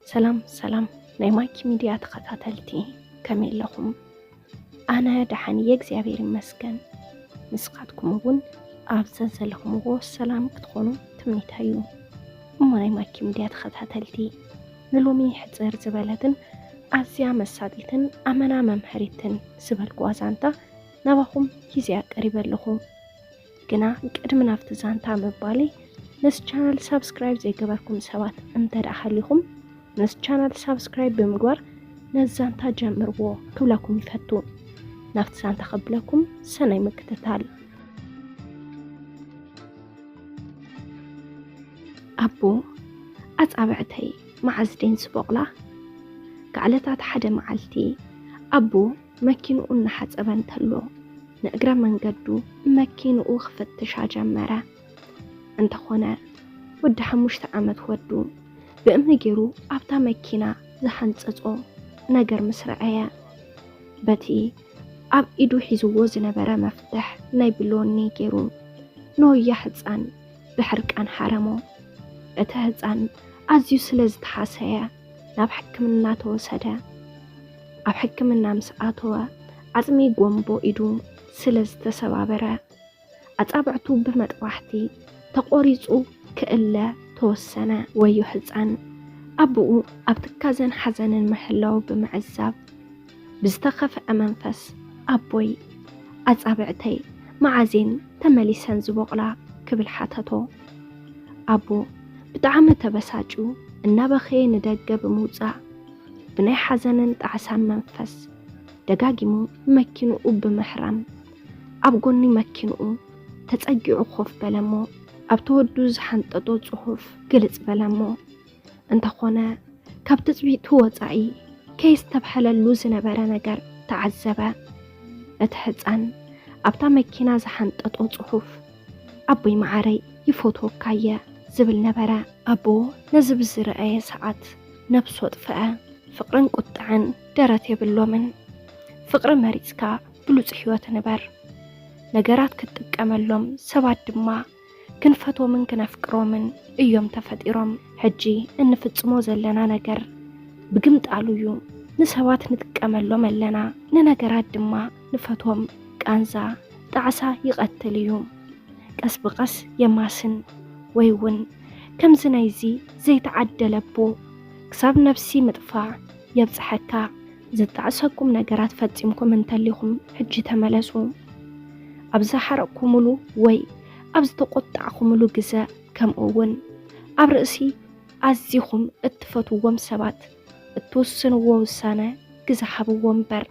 ሰላም ሰላም ናይ ማይኪ ሚድያ ተኸታተልቲ ከመይ ኣለኹም? ኣነ ደሓን እየ እግዚኣብሔር ይመስገን። ንስኻትኩም እውን ኣብ ዘዘለኹምዎ ሰላም ክትኾኑ ትምኒተይ እዩ። እሞ ናይ ማይኪ ሚድያ ተኸታተልቲ ንሎሚ ሕፅር ዝበለትን ኣዝያ መሳጢትን ኣመና መምሀሪትን ዝበልኩዋ ዛንታ ናባኹም ሂዘያ ቀሪበ ኣለኹ። ግና ቅድሚ ናብቲ ዛንታ ምባለይ ነስ ቻናል ሳብስክራይብ ዘይገበርኩም ሰባት እንተ ደኣ ሃሊኹም ነስ ቻናል ሳብስክራይብ ብምግባር ነዚ ዛንታ ጀምርዎ ክብለኩም ይፈቱ። ናብቲ ዛንታ ከብለኩም ሰናይ ምክትታል። ኣቦ ኣጻብዕተይ መዓዝ ደን ስቦቕላ? ጋዕለታት ሓደ መዓልቲ ኣቦ መኪንኡ እናሓፀበ እንተሎ ንእግረ መንገዱ መኪንኡ ክፍትሻ ጀመረ። እንተኾነ ወዲ ሓሙሽተ ዓመት ወዱ ብእምኒ ገይሩ ኣብታ መኪና ዝሓንፀፆ ነገር ምስ ረኣየ በቲ ኣብ ኢዱ ሒዝዎ ዝነበረ መፍትሕ ናይ ብሎኒ ገይሩ ንወያ ህፃን ብሕርቃን ሓረሞ። እቲ ህፃን ኣዝዩ ስለ ዝተሓሰየ ናብ ሕክምና ተወሰደ። ኣብ ሕክምና ምስ ኣተወ ዓፅሚ ጎምቦ ኢዱ ስለ ዝተሰባበረ ኣፃብዕቱ ብመጥባሕቲ ተቖሪፁ ክእለ ተወሰነ። ወዮ ህፃን ኣቡኡ ኣብ ትካዘን ሓዘንን ምሕላዉ ብምዕዛብ ብዝተኸፍዐ መንፈስ ኣቦይ ኣፃብዕተይ መዓዝ እየን ተመሊሰን ዝቦቕላ? ክብል ሓተቶ። ኣቦ ብጣዕሚ ተበሳጭዩ እናበኸየ ንደገ ብምውፃእ ብናይ ሓዘንን ጣዕሳን መንፈስ ደጋጊሙ መኪንኡ ብምሕራም ኣብ ጎኒ መኪንኡ ተጸጊዑ ኮፍ በለ እሞ ኣብ ተወዱ ዝሓንጠጦ ጽሑፍ ግልጽ በለ እሞ እንተኾነ ካብ ትጽቢቱ ወጻኢ ከየስተብሐለሉ ዝነበረ ነገር ተዓዘበ። እቲ ሕፃን ኣብታ መኪና ዝሓንጠጦ ጽሑፍ ኣቦይ መዓረይ ይፎትወካ እየ ዝብል ነበረ። ኣቦ ነዚ ብዝረኣየ ሰዓት ነብስ ወጥፍዐ ፍቅርን ቁጥዐን ደረት የብሎምን ፍቅሪ መሪጽካ ብሉጽ ሂወት ንበር ነገራት ክትጥቀመሎም ሰባት ድማ ክንፈቶምን ክነፍቅሮምን እዮም ተፈጢሮም ሕጂ እንፍጽሞ ዘለና ነገር ብግምጣሉ እዩ ንሰባት ንጥቀመሎም ኣለና ንነገራት ድማ ንፈትዎም ቃንዛ ጣዕሳ ይቐትል እዩ። ቀስ ብቐስ የማስን ወይ እውን ከምዚ ናይዚ ዘይተዓደለ ኣቦ ክሳብ ነብሲ ምጥፋእ የብጽሐካ። ዘጣዕሰኩም ነገራት ፈጺምኩም እንተሊኹም ሕጂ ተመለሱ። ኣብ ዝሓረቕኩምሉ ወይ ኣብ ዝተቖጣዕኩምሉ ግዘ ከምኡ እውን ኣብ ርእሲ ኣዚኹም እትፈትውዎም ሰባት እትውስንዎ ውሳነ ግዘ ሃብዎ እምበር።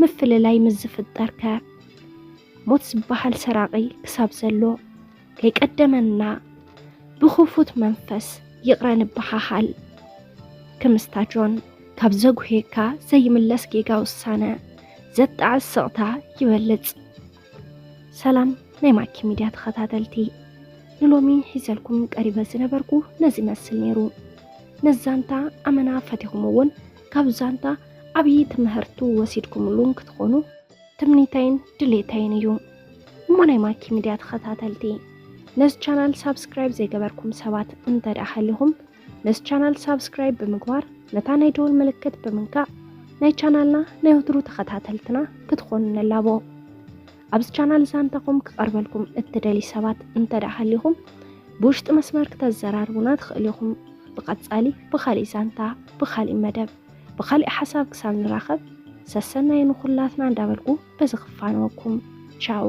ምፍልላይ ምስ ዝፍጠር ከ ሞት ዝበሃል ሰራቒ ክሳብ ዘሎ ከይቀደመና ብኽፉት መንፈስ ይቕረ ንበሃሃል። ክምስታ ጆን ካብ ዘጉህየካ ዘይምለስ ጌጋ ውሳነ ዘጣዕስ ስቕታ ይበልጽ። ሰላም ናይ ማኪ ሚድያ ተኸታተልቲ ንሎሚ ሒዘልኩም ቀሪበ ዝነበርኩ ነዚ ይመስል ነይሩ ነዚ ዛንታ ኣመና ፈቲኹም እውን ካብ ዛንታ ዓብዪ ትምህርቱ ወሲድኩምሉን ክትኾኑ ትምኒተይን ድሌተይን እዩ እሞ ናይ ማኪ ሚድያ ተኸታተልቲ ነዚ ቻናል ሳብስክራይብ ዘይገበርኩም ሰባት እንተ ደኣ ሃሊኹም ነዚ ቻናል ሳብስክራይብ ብምግባር ነታ ናይ ደወል ምልክት ብምንካእ ናይ ቻናልና ናይ ወትሩ ተኸታተልትና ክትኾኑ ንላቦ። ኣብዚ ቻናል ዛንታኹም ክቐርበልኩም እትደልዩ ሰባት እንተደኣ ሃሊኹም ብውሽጢ መስመር ክተዘራርቡና ትኽእሉ ኢኹም። ብቐጻሊ ብኻሊእ ዛንታ፣ ብኻሊእ መደብ፣ ብኻሊእ ሓሳብ ክሳብ ንራኸብ ሰሰናዩ ንኹላትና እንዳበልኩ በዚ ክፋነወኩም ቻው።